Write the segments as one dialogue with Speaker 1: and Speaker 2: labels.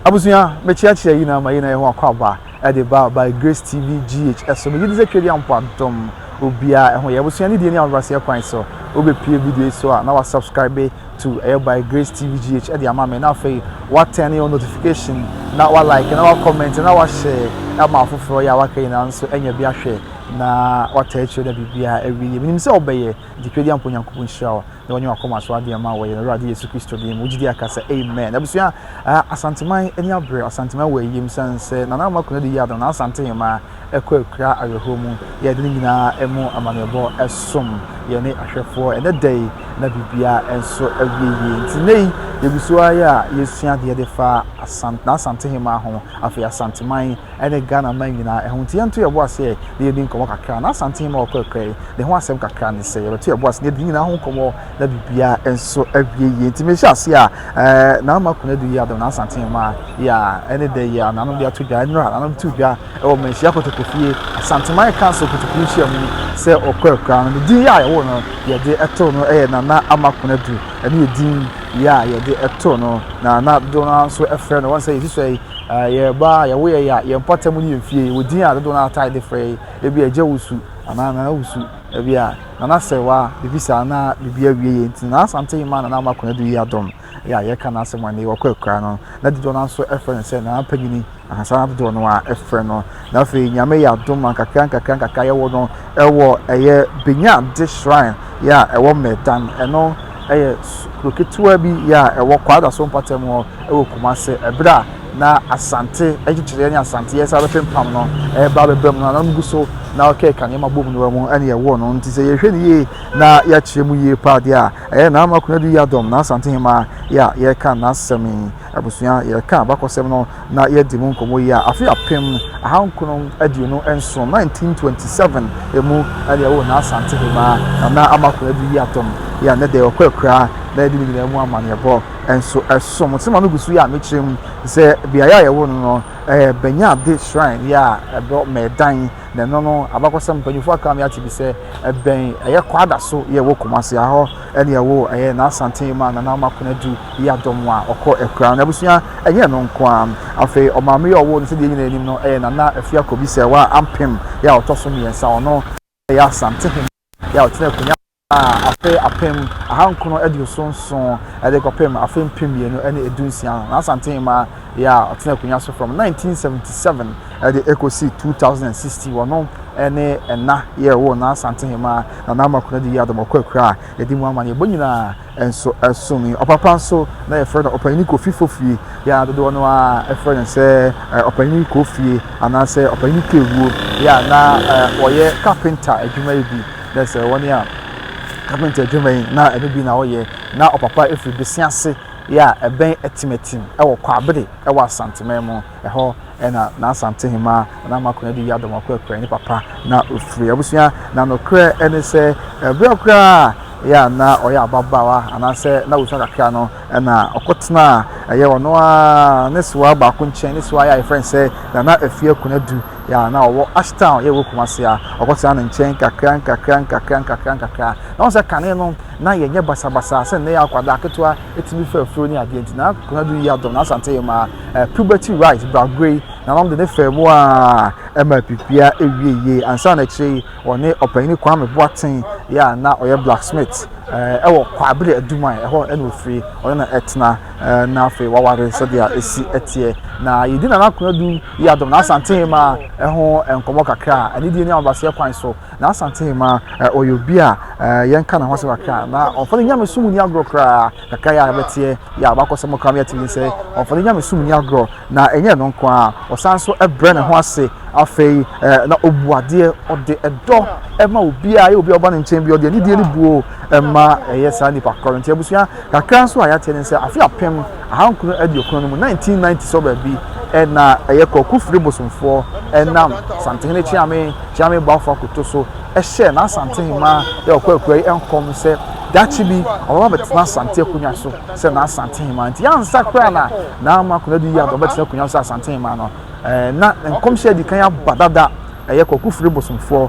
Speaker 1: Abusua, me kyeakyea yi na ama yei na yɛho akwaaba ɛde ba by Grace TV GH ɛso. Me gyedi sɛ Twɛdia mpo adom obiaa ɛho yɛ abusua ne die ne ahobraseɛ kwan so wo bɛ pie video yi so a na wa subscribe to ɛyɛ by Grace TV GH ɛde ama me na afei wa turn your notification na wa like na wa comment na wa share ama afoforɔ yɛ a waka nyinaa nso ɛnyɛ bi ahwɛ na wa tɛ akyire da biribiaa ɛwie yɛ menim sɛ ɔbɛyɛ nti Twɛdia mpo Nyankopɔn nhyira wo na wanya wakoma so adeɛ ama wɔ yɛn awurade yesu kristo deɛ mu gyidi aka sɛ amen abusua uh, asanteman ani abrɛ asanteman wɔ ayim sane sɛ nana ama kuna de yi adana asante hema ɛkɔ akura awerɛhoɔ mu yɛde no nyinaa ɛmu amanneɛbɔ ɛsom yɛne ahwɛfoɔ ɛnɛ da yi na biribia nso awie yie nti nɛ yi yɛgu so ayɛ a yɛsua deɛ de fa asante na asante hema ho afei asanteman ne Ghana man nyinaa ɛho nti yɛnto yɛn bo ase ɛ na yɛdi nkɔmmɔ kakra na Asante Hemma Ɔkɔɛkɔɛ yi ne ho asɛm kakra ne sɛ yɛbɛto yɛn bo ase na yɛdi nyinaa ho nkɔmmɔ na biribiara nso awie yie nti mehyɛ ase a ɛɛ Naama Kunadu yi adom na Asante Hemma yi a ɛne da yi a nanom de ato dwa nnura nanom to dwa ɛwɔ manhyia kotokofie Asanteman Council kotokofie nhyia mu sɛ Ɔkɔɛkɔɛ no ne din yi a yɛwo no yɛde ɛto no ɛyɛ Nana Ama Kunadu ɛne yɛ din yi a yɛde ɛto no na na dono nso ɛfrɛ no wɔn sɛ yɛsi so yi Yɛn mmaa, yɛn wo yɛn ya, yɛn mpɔtam ne yɛn fie. Wɔ din a dodow no ara taa de frɛ yi, ebi agya wusu anaa nana wusu, ebi a nana sɛwa, biribi saa na biribi awie yɛn nti. Nana Asante yi maa Nana Makwan Adu yi adom yɛ a yɛka n'asɛm a nnɛ yi wɔkɔ akura no. Na dodow no ara nso frɛ no sɛ Nana Panyini, saa na dodow no ara frɛ no. Na afei Nyame yɛ adom ma nkakra nkakra nkakra yɛwɔ no ɛwɔ ɛyɛ Benyade shrine yɛ a ɛwɔ Mɛdan ɛno ɛyɛ kuro ketewa bi yɛ a ɛwɔ Kwadaso mpatam hɔ ɛwɔ Kumase ɛberɛ a na Asante ɛkyekyere ɛne Asante yɛ saa bɛpempam no ɛba bɛba mu no na gu so na ɔkeka nneɛma bom no mu ɛne ɛwɔ no nti sɛ yɛhwɛ no yie na yɛakyerɛ mu yie paa deɛ a ɛyɛ Nana Makunadu Yadom na Asante Hemaa yɛ a yɛka n'asɛm yi Abusua, yɛreka abakɔsɛm no na yɛadi mu nkɔmmɔ yi a, afe apem ahankron aduonu nson, 1927, mu na yɛwoo na Asante Hemaa, na na ama akonnwa du yi atɔm, yɛ a nnɛ da yɛwɔ kɔ akuraa, na yɛde ne nyinaa mu amanneɛbɔ nso som. Nsɛm a megu so yi a mekyerɛ mu sɛ beaeɛ a yɛwoo no no yɛ Bɛnyɛade Shrine, yɛ a ɛbɔ Mɛdan, na ɛno no abakɔsɛm mpanyimfoɔ aka me ate bi sɛ ɛbɛn ɛyɛ Kwada so, yɛ wɔ Kumasi ha hɔ. Ɛneɛ woo ɛyɛ n'asanten maa Nana Amakona du yi adɔm a ɔkɔ akuraa no abusua ɛnyɛ ɛno nko ara. Afei ɔmaame yi a ɔwoo no sɛdeɛ yɛn nyinaa nim no ɛyɛ Nana Afiako Bisɛwa Ampem yi a ɔtɔ so mmiɛnsa. Ɔno ɛyɛ Asante Hene yi a ɔtena akunya a afe apem ahankono aduoso nson ɛde kɔpem afe mpem mmienu ne edu nsia no n'asanten maa. bea a ɔtsenaa akonnwa so from 1977 dze ekosi 2016. Ɔno ne Nna Yerwoo na Asantehemmaa Nana Ama Konadu Yiadom Ɔkɔakura a yɛdze mu ama no. Yɛbɔ nyina nso som yi. Ɔpapa nso na yɛfrɛ no Ɔpanyin Kofi Fofie, yɛ a dodoɔ no ara frɛ no sɛ Ɔpanyin Kofie anaasɛ Ɔpanyin Kewuo, yɛ a na ɔyɛ kapenta adwuma yi bi, dɛ sɛ wɔne a kapenta adwuma yi na ɛno bi na ɔyɛ. Na ɔpapa firi Besia ase. yɛ a ɛbɛn Atimatim wɔ Kwabere wɔ Asanteman mu. Ɛhɔ na n'Asante Hemaa Nana Mako Adu Yadom Akoa Kurayi ne papa na ofiri. Abusua na nokorɛ ne sɛ berɛ koraa yɛ a na ɔyɛ ababaawa anaasɛ na ɔsua kakra no na ɔkɔtenaa ɛyɛ ɔno ara ne sewaa baako nkyɛn. Ne sewaa yɛ a yɛfrɛ no sɛ Nana Afiaku Adu yɛ a na ɔwɔ Ashtown yɛ wɔ Kumase a ɔkɔtenaa ne nkyɛn nkakra nkakra nkakra nkakra nkakra. Na wɔn sɛ kane no Ná yɛnyɛ basabasa sɛ nnɛ yɛ akwadaa ketewa tumi fa afuro ne adeɛ nti. Ná Konadu yi adɔm n'Asante mmaa, ɛɛ puberty right braguo yi na ɔde ne faa mu ara ɛma apipia ɛwie yie. Ansa na akyire yi ɔne Ɔpanyin Kwame Boateng yi a na ɔyɛ blacksmith ɛɛ ɛwɔ Kwabre Aduman ɛhɔ na ɔfiri ɔne no ɛtena ɛɛ na afei waware sɛdeɛ ɛsi ɛteɛ. Na yɛdi Nana Konadu yi adɔm n'Asante mmaa ɛho nkɔmmɔ kakra anidie ne ahobraseɛ kwan so. Na Asante Emma, ɔyɛ obi a yɛnka ne ho asɛm kakra a, na ɔmfa ne nyamesom nni agorɔ koraa. Kakra yɛ a yɛbɛteɛ yɛ a wakɔ sɛm koraa no yɛatumi sɛ ɔmfa ne nyamesom nni agorɔ. Na ɛnyɛ ɛno nko ara, ɔsan nso brɛ ne ho ase. Afei na ɔbu adeɛ, ɔde dɔ ma obiara, ɛyɛ obiara ɔba ne nkyɛn bi, ɔde anidie ne buo ma ɛyɛ saa nnipa korɔ no. Nti abusua, kakra nso a yɛateɛ ne sɛ afe apem Ahankron aduokron no mu, 1990 sɔ baabi, na ɛyɛ Kwaku Firi bosomfoɔ nam Santehene Kyeame Kyeame Bawfo Akoto so hyɛɛ n'Asantehemaa yɛ ɔkɔ akura yi nkɔm sɛ daakye bi ɔbɛba abɛtena Asante akonnwa so sɛ n'Asantehemaa. Nti ansa koraa na Naama Konadu Yiado abɛtena akonnwa so sɛ Asantehemaa no, na nkɔmhyɛ adi kan aba dada. Ɛyɛ Kwaku Firi bosomfoɔ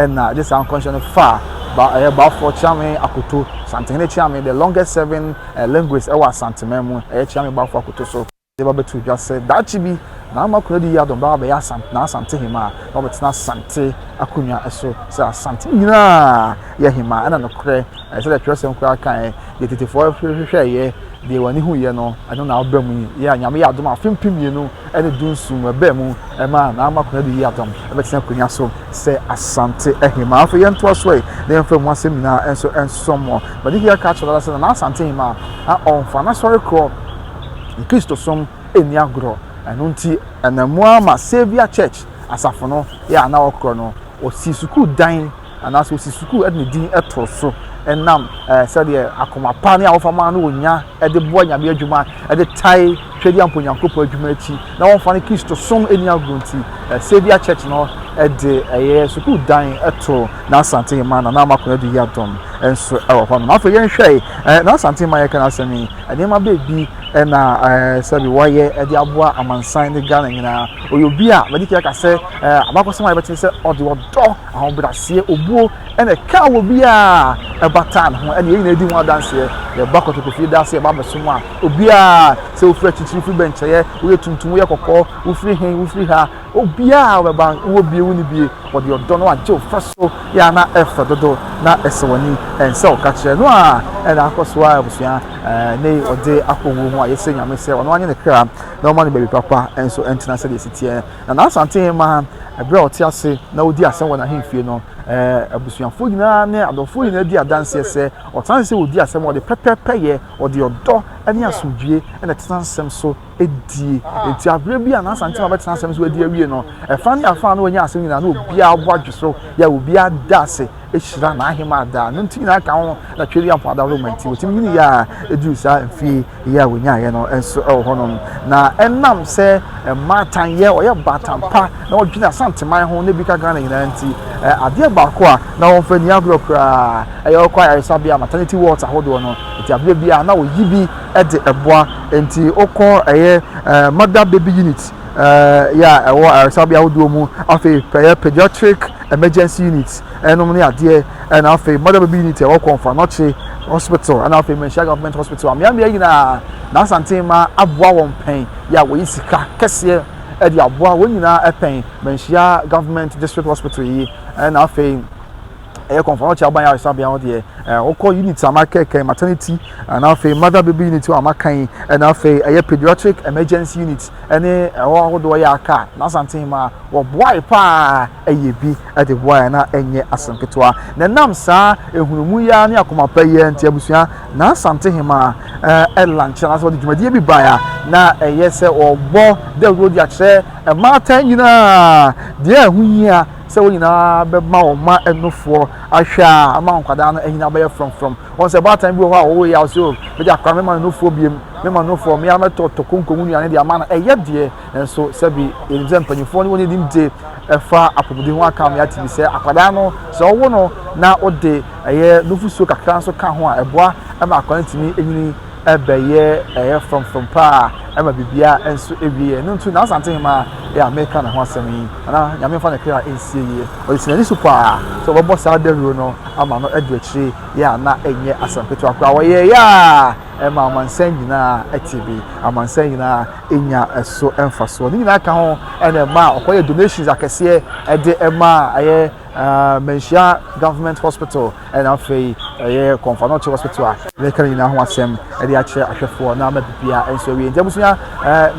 Speaker 1: na ɛde saa nkɔmhyɛ no faa Bawfo Kyeame Akoto, Santehene Kyeame, the longest serving Linguist ɛwɔ Asanteman mu, ɛyɛ Kyeame Bafo akoto so, de ba bɛtoo dwa sɛ daakye bi Nana Konadu Yiadom bɛba abɛyɛ Asante-N'Asantehemaa na wabɛtena Asante akonnwa so sɛ Asante nyinaa yɛ hemaa. Ɛna nokorɛ, sɛdeɛ twerɛsɛm koraa kaeɛ, deɛ tetefoɔ hwehwɛeɛ, deɛ wɔn ani huiɛ no, ɛno na aba mu yi. Yea, Nyame yɛ adom a afe mpem mmienu ne dunson mu ɛbaa mu maa Naama Konadu yii Adam bɛtena akonnwa so sɛ Asante Ahemaa. Afei yɛntoa so ɛ na yɛmfa mu asɛm nyinaa nso nsɔ mo. Madihia ka kyerɛ dada sɛ Nana Asante Ahemaa a ɔmfa n'asɔre korɔ ne Kristosom nni agorɔ. Ɛno nti ɛnam mu ara ma Saviour Church, asafo no, yɛ a na ɔkorɔ no, ɔsii sukuu dan Anaasɛ osi sukuu de ne din to so nam sɛdeɛ akoma pa ne a wɔfa ma no wɔ nya de boa Nyame adwuma de tae Twɛdiampɔ Onyankopɔn adwuma akyi na wɔmfa ne Kristosom nni agorɔ nti, Saviour Church no de ɛyɛ sukuu dan to N'Asantehema Nana Ama Konadu Yiadom nso wɔ hɔ nom. Afei yɛnhwɛ N'Asantehema yɛka n'asɛm yi, nneɛma baabi na sɛbi wɔayɛ de aboa amansan ne Ghana nyinaa. Ɔyɛ obi a madi kan aka sɛ abakɔsɛm a yɛbɛte sɛ ɔde ɔdɔ Ahobrɛaseɛ, obuo, ɛna ɛkaa wɔ biaa ɛbataa ne ho ɛna yɛn nyinaa di ho adanseɛ. Yɛba kɔtɔkɔ fie daa sɛ yɛba abɛsom a, obiaa, sɛ wofiri akyirikyiri, wofiri bɛnkyɛeɛ, woyɛ tuntum, woyɛ kɔkɔɔ, wofiri he, wofiri ha, obiaa ɔbɛba, wowɔ bie, wonni bie, wɔde ɔdɔ no agye wo fa so, yɛ a na ɛfɛ dodo, na ɛsɛ w'ani, ɛnsɛ ɔka kyerɛ no a ɛna akɔ so a abusua ɛɛ ne ɔde akɔ wuo ho a yɛsrɛ Nyame sɛ ɔno anye ne kra na ɔma no baabi papa nso ɛntena sɛdeɛ ɛsi teɛ. Na n'Asante Hemmaa, bere a ɔte ase na odi asɛm wɔ n'ahemfie no, abusuafo nyinaa ne adɔfo nyinaa di adanseɛ sɛ ɔtena ase sɛ ɔdi asɛm, ɔde pɛpɛɛpɛyɛ, ɔde ɔdɔ ne asomdwoeɛ na ɛtena nsɛm so die. Enti aberɛ bi a n'Asante Hemmaa bɛtena asɛm so adi awie no, ɛfa ne afa a na wɔanya asɛm nyinaa, na obiara bo adwo so, yɛ a obiara da ase hyira n'ahemaa daa. No nti nyinaa ka ho na Tweri Ampɔada Roma nti wɔtumi nyini yɛ a ɛduru saa mfie yɛ a wɔnyaeɛ no nso wɔ hɔnom. Na ɛnam sɛ mmaatan yɛ ɔyɛ baatan pa na wɔdwene Asanteman ho na bi ka Ghana nyinaa nti adeɛ baako a na wɔmfa ni agorɔ koraa ɛyɛ wɔkɔ ayaresabea maternity wards ahodoɔ no nti aberɛ bi a na wɔyi bi de ɛboa nti wokɔ ɛyɛ mother baby unit yɛ a ɛwɔ ayaresabea ahodoɔ mu afei pɛyɛ pediatric emergency unit ɛnom ne adeɛ ɛna afei mother baby unit ɛwɔ kɔnfa nɔkye hospital ɛna afei manhyia government hospital ameamea nyinaa na asante ma aboa wɔn pɛn yɛ a wɔyi sika kɛseɛ ɛde aboa wɔn nyinaa ɛpɛn manhyia government district hospital yi ɛna afei ɛyɛ kɔnfa nɔkye aban ayaresabea hɔ deɛ ɛɛ wokɔ unit ama kɛkɛ maternity ɛna afei mother baby unit wɔ ama kan ɛna afei ɛyɛ pediatric emergency unit ne ɛhɔ ahodoɔ yɛ aka a, n'asanten mu a wɔboae pa ara yɛ bi de boae a na ɛnyɛ asɛm ketewa. Na ɛnam saa nhunumu yi ara ne akoma pa yi ara nti, abusua, n'asantehemaa eh, lankyɛ anaasɛ wɔde dwumadie bi bae a na ɛyɛ sɛ wɔbɔ dawuro de akyerɛ mmaatan nyinaa deɛ ɛho hia sɛ wɔn nyinaa bɛma wɔn mma ɛnofoɔ ahwɛ a ama nkwadaa no anyina bɛyɛ frɔmfrɔm. Wɔn sɛ baatan bi wɔ hɔ a ɔwɔ yaw sɛ o mede akora me ma no nufoɔ biam me ma nufoɔ me ara mɛtɔ tɔ konko mu nnuane de ama no ɛyɛ deɛ nso sɛbi yɛnim sɛ mpanyinfoɔ ne wɔn nim de ɛfa apɔmuden ho aka me ate bi sɛ akwadaa no sɛ ɔwo no na wode ɛyɛ nufosuo kakra nso ka ho a ɛboa ma akwadaa no tumi nyini ɛbɛyɛ ɛyɛ frɔmfrɔm paa ɛma biribiara nso ewie yɛ ɛno nti na asante hema yɛ a meka ne ho asɛm yi ana nyame mfa ne kra nsie yie ɔde si n'ani so paa sɛ ɔbɛbɔ saa dawuro no ama no adu akyire yɛ a na ɛnyɛ asɛm ketewa koraa wɔyɛ yɛ a ɛma amansan nyinaa ɛte bi amansan nyinaa ɛnya ɛso mfasoɔ ne nyinaa ka ho ɛna ɛma ɔkɔyɛ donations akɛseɛ ɛde ɛma ɛyɛ manhyia government hospital na afei ɛyɛ Kɔnfanoche Hospital a yɛka ne nyinaa ho asɛm de akyerɛ ahwɛfoɔ na ama bibia nso awie. Nti abusua,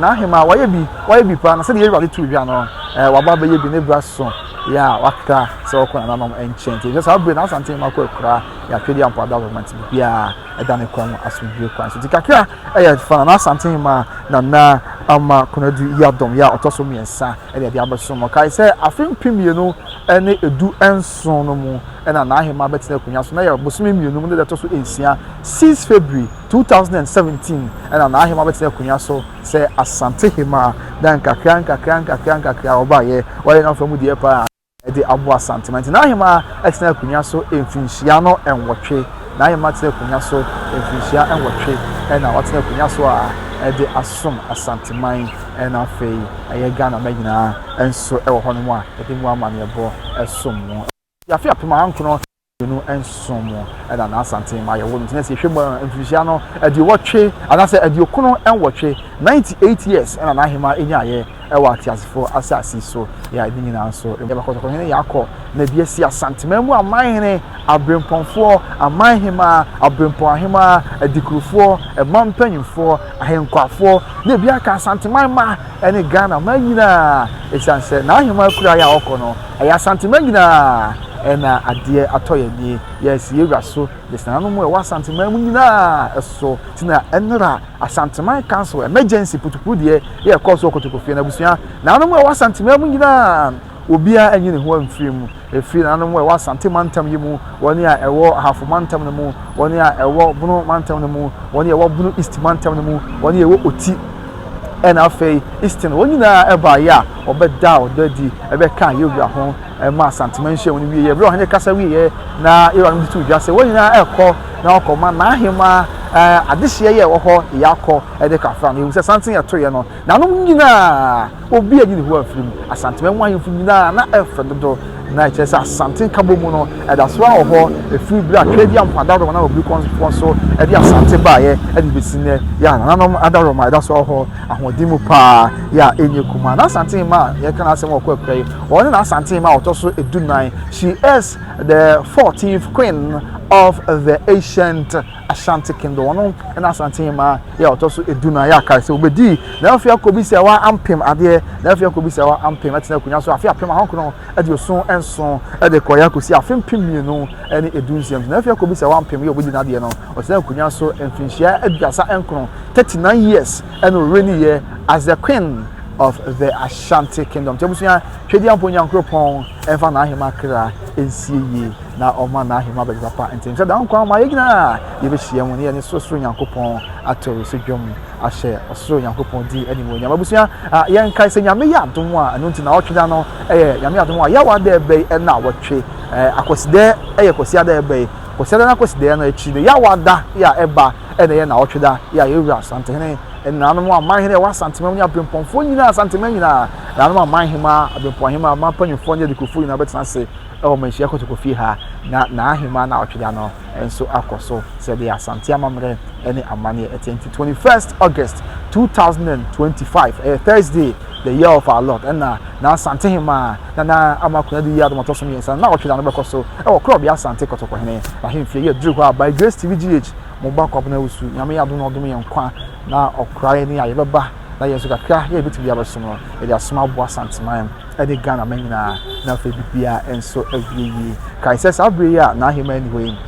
Speaker 1: n'ahema wayɛ bi, wayɛ bi paa na sɛdeɛ Awurade too dwa no, waba abɛyɛ bi, ne bra so yɛ a waka sɛ ɔkɔ nananom nkyɛn. Nti ɛsɛ saa bere na Asante ma kɔ akura yɛ atwedeɛ ampa da ma nti biribiara ɛda ne kwan mu asomdwoe kwan so. Nti kakra ɛyɛ fa Nana Asante ma Nana ama Konadu Yiadom yɛ a ɔtɔ so mmiɛnsa ɛde ɛde abɛsom. Ɔkae sɛ afe mpem mmienu ne edu nso ason no mu na n'ahenman bɛtena akonnwa so, na ɛyɛ bosome mmienu mu no da ɛtɔ so nsia, six February, two thousand and seventeen, na n'ahenman bɛtena akonnwa so sɛ Asante Hemmaa, na nkakra nkakra nkakra nkakra ɔbaeɛ, ɔyɛ n'afa mu deɛ paa de aboa Asante ma nti n'ahenman tena akonnwa so mfinhyia no nwɔtwe, n'ahenman tena akonnwa so mfinhyia nwɔtwe na watena akonnwa so a ɛde asom Asanteman na afei. ɛyɛ Ghana mma nyinaa nso wɔ hɔnom a yɛde mu amanneɛbɔ som mu. Efi afe apem ahankron ne aduonu nson mu na Naa Asantee mma yɛwoo no nti na sɛ yɛhwɛ mu a mfirihyia no aduowɔtwe anaasɛ aduokron nwɔtwe, ninety eight years, na Naa Hemaa nyaeɛ wɔ ateasefoɔ asase so. Yɛa ne nyinaa nso mu. Yɛba Kɔtɔkɔhene Yaakɔ na bi asi Asanteman mu amanhene, Abrempɔnfoɔ, Amanhemaa, Abrempɔn Ahemaa, Adikurufoɔ, Mma Mpanyimfoɔ, Ahenkwafoɔ na ebi aka Asanteman mma ne Ghana mma nyinaa ɛsiane sɛ n'aheman akuraeɛ a ɔkɔ no ɛyɛ Asanteman nyinaa ɛna adeɛ atɔ yɛn ani yɛasi yɛn wura so de sananom a ɛwɔ Asanteman mu nyinaa so ti na ɛnora Asanteman Council emergency putupuu deɛ yɛ ɛkɔɔ so wɔ Kotokofie no abusua naanom a ɛwɔ Asanteman mu nyinaa Obiara nyi ne ho mfiri mu, ɛfiri nananom a ɛwɔ Asante mantam yi mu, wɔn a ɛwɔ Ahafo mantam no mu, wɔn a ɛwɔ Bono mantam no mu, wɔn a ɛwɔ Bono East mantam no mu, wɔn a ɛwɔ Oti, ɛna afei Eastern, wɔn nyinaa ɛbaeɛ a wɔbɛdaa ɔdɔ adi, ɛbɛkaa yɛn wura ho, ɛma Asantema nhyiamu no wieeɛ. Berɛ a ɔhene kasa wieeɛ na yɛn wuranom de too dwa sɛ wɔn nyinaa ɛrekɔ na wɔkɔma n'ahemaa adehyeɛ yɛ ɛwɔ hɔ yɛ akɔ de kafra no. Yɛhu sɛ santen a ɛtoeɛ no Nanom nyina a, obi anyi ne ho amfiri mu. Asanteman mu ahemfo nyina a, na ɛfɛ dodo. Na ɛkyerɛ sɛ Asante nkabom mu no, ɛda so ara wɔ hɔ firi berɛ a Twɛdiamfo adaworoma nam abirikɔfoɔ so de Asante baeɛ de bɛsi nnɛ. Yɛ a Nananom adaworoma ɛda so ara wɔ hɔ ahoɔden mu pa ara, yɛ a ɛnyɛ kumaa. N'Asante mma a yɛreka n'asɛm wɔ kɔ pɛ yi, wɔn ne N'Asante mma a wɔtɔ so du nnan. She is the fourteenth queen of the ancient. Ashanti Kingdom. Ɔno na Asante Hemaa yɛ ɔtɔ so edu no a yɛ akae sɛ obedii n'afe akɔbisawa ampem adeɛ n'afe akɔbisawa ampem ɛtena akonnwa so afe apem ahonkron aduoson nson ɛde kɔeɛ akɔsi afe mpem mmienu ɛne edu nsia nti n'afe akɔbisawa ampem yɛ obedi n'adeɛ no ɔtena akonnwa so mfinhyia aduasa nkron 39 years ɛna ɔwuraniiɛ as the queen of the Ashanti Kingdom nti abusua twɛdi ampo nyankoropɔn ɛmfa n'ahema kra nsie yie na ɔma n'ahengua bɛyɛ papa. Nti nhyɛ da nkwa ma yɛn nyinaa a yɛbɛhyia mu ne yɛne sorosoro Nyankopɔn ato so dwom ahyɛ ɔsoro Nyankopɔn din animuonyam. Abusua, yɛnkae sɛ Nyame yɛ adom a, ɛno nti nawɔtwe da no yɛ Nyame adom a Yawa da ɛbɛ yi na wɔtwe. Akwasidɛ yɛ Kwasiada ɛbɛ yi. Kwasiada na Kwasidaeɛ no akyi no, Yawa da yɛ a ɛba ɛna yɛ nawɔtwe da yɛ a yɛwura Asantehene nananom aman hene ɛwɔ Asantema mu ne abempɔnfoɔ nyinaa Asantema nyinaa nananom aman hemaa, abempɔn hemaa, aman panyinfoɔ ne adikufoɔ nyinaa bɛtena ase. Ɛwɔ ma nhyia kotoko fie ha na n'ahemmaa na ɔtwe da no nso akɔ so sɛdeɛ Asante amammerɛ ne amanneɛ ɛteɛ nti 21st August 2025 ɛyɛ Thursday the year of our Lord ɛna na Asante hemmaa Nana Ama Konadu yi adom ɔtɔ so mmiɛnsa no na ɔtwe da no bɛkɔ so ɛwɔ korɔbea Asante Kɔtɔkɔhene ahemfie yɛ duru hɔ a by Grace TV GH mo ba kwabena awusu nyame yɛ adom na ɔdom yɛn nkwa na ɔkora yɛn ne a yɛbɛba na yɛn nso kakra yɛ yɛbɛtumi de abɛsom no yɛde asom aboa Asanteman ne Ghana mma nyinaa, na afei biribiara nso awie yie. Kae sɛ saa bere yi a n'ahemman ni hɔ yi,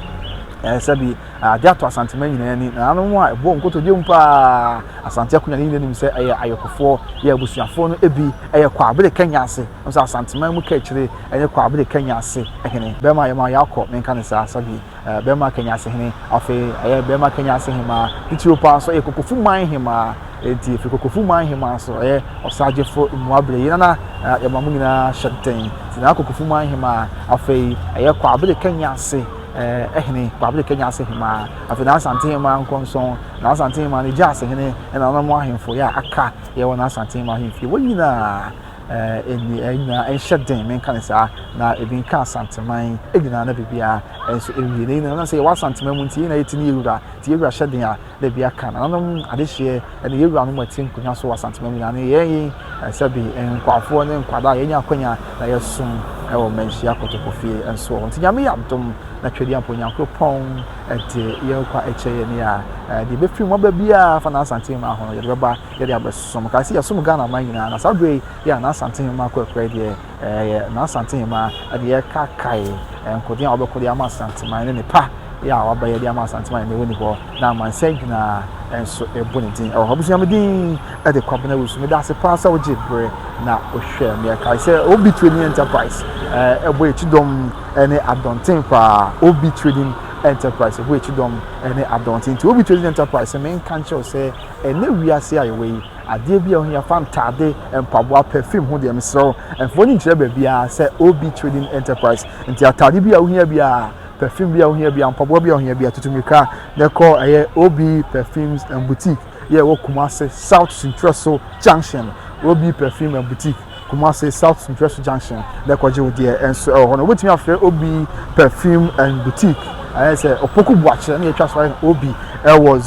Speaker 1: ɛɛ sɛbi ade atɔ Asanteman nyinaa ani, na nanom a ɛbɔ nkotodwe mu paa, Asante akonya ne nyinaa nim sɛ ɛyɛ ayɔkofoɔ, yɛ abusuafoɔ no ebi, ɛyɛ Kwabere Kanya ase, ɔno sɛ Asanteman mu Kaakyire ne Kwabere Kanya ase hene. Bɛrima yɛma yɛakɔ, menka ne saa, sɛbi. Bɛrima Kenya Asehene, afei ɛyɛ Bɛrima Kenya Asehemaa, titiriw paa nso ɛyɛ Kokofu Man Hemaa. Enti efi Kokofu Man Hemaa nso ɛyɛ Ɔsagyefo Mmuabere yi nana yɛma mo nyinaa hyɛntɛn. Sinaa Kokofu Man Hemaa, afei ɛyɛ Kwabere Kenya Ase ɛhene, Kwabere Kenya Ase Hemaa, afei n'Asante Hemaa Nkɔnsɔn, n'Asante Hemaa ne Gya Asehene ɛna nananom ahemfo yɛ a aka yɛwɔ n'Asante Hemaa ahemfie wɔ nyinaa. Ɛɛ, nyinaa nhyɛ den, menka no saa, na ebi nka Asanteman nyinaa na biribiara nso nwie. Na yɛn na sɛ yɛwɔ Asanteman mu nti, yɛn na yɛte ne yɛwura, nti yɛwura hyɛ den a na ebi aka. Nananom adehyeɛ ɛna yɛwura no mu ɛte nkonnwa so wɔ Asanteman nyinaa. Ne yɛn yi sɛ bi nkwafoɔ ne nkwadaa yɛnya akwanya na yɛsom ɛwɔ mmanhyia kotokofie nso wɔ hɔ. Nti nyame yɛ adom na twɛdeɛ mpo Nyankoropɔn ɛde yɛn kwa ɛkyɛ yɛn a ɛde bɛfiri mu aba biara fa na Asanteman ahono yɛde bɛba yɛde abɛsosɔ mu. Kae sɛ yɛsom Ghana man nyinaa, na saa berɛ yi yɛ a na Asante Hemmaa akorakorae deɛ ɛyɛ na Asante Hemmaa de rekakae nkodeɛ a wɔbɛko de ama Asanteman ne nepa yɛ a waba yɛde ama Asanteman na ɛwɔ ni hɔ na amansan nyinaa nso ɛbɔ ne din ɛwɔ hɔ. Abusua me din ɛde Kwabena Wusu. Meda ase paa sɛ wogye berɛ na wohwɛ me. Ɛkae sɛ Obi Trading Enterprise ɛbɔ yɛ kyidɔm ne adɔnten paa. Obi Trading Enterprise ɛbɔ yɛ kyidɔm ne adɔnten nti Obi Trading Enterprise menka nkyerɛw sɛ Ɛnnɛ wiase a yɛwɔ yi, adeɛ bi a ohia fa ntaade, mpaboa, perfume ho deɛ mesrɛ wo mfa w'ani nkyerɛ baabiara sɛ OB Trading Enterprise. Nti ataade bi a wohia biara, perfume bi a wohia biara, mpaboa bi a wohia biara, tutu mirika na kɔ ɛyɛ OB Perfumes and Boutique yɛ ɛwɔ Kumasi South Sintwerɛso Junction. OB Perfume and Boutique. Kumasi South Centralsu Junction na ɛkɔgye wo deɛ nso ɛwɔ hɔ no wobɛtumi afrɛ Obi Perfume and Boutique ayɛ sɛ Opoku Boakyɛ na yɛtwa so ayɛ no Obi ɛwɔ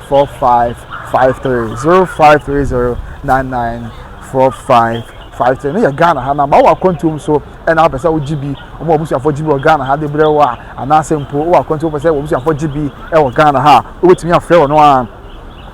Speaker 1: 0530994553 0530994553 fighting no yɛ ghana ha na ma wɔ akwantuom so ɛna wopɛ sɛ wogye bi wɔn a abusuafoɔ gye bi wɔ ghana ha de brɛ wɔ a anaasɛ mpo wɔ akwantuom pɛ sɛ wɔn abusuafoɔ gye bi wɔ ghana ha a wobɛtumi afrɛ wɔn a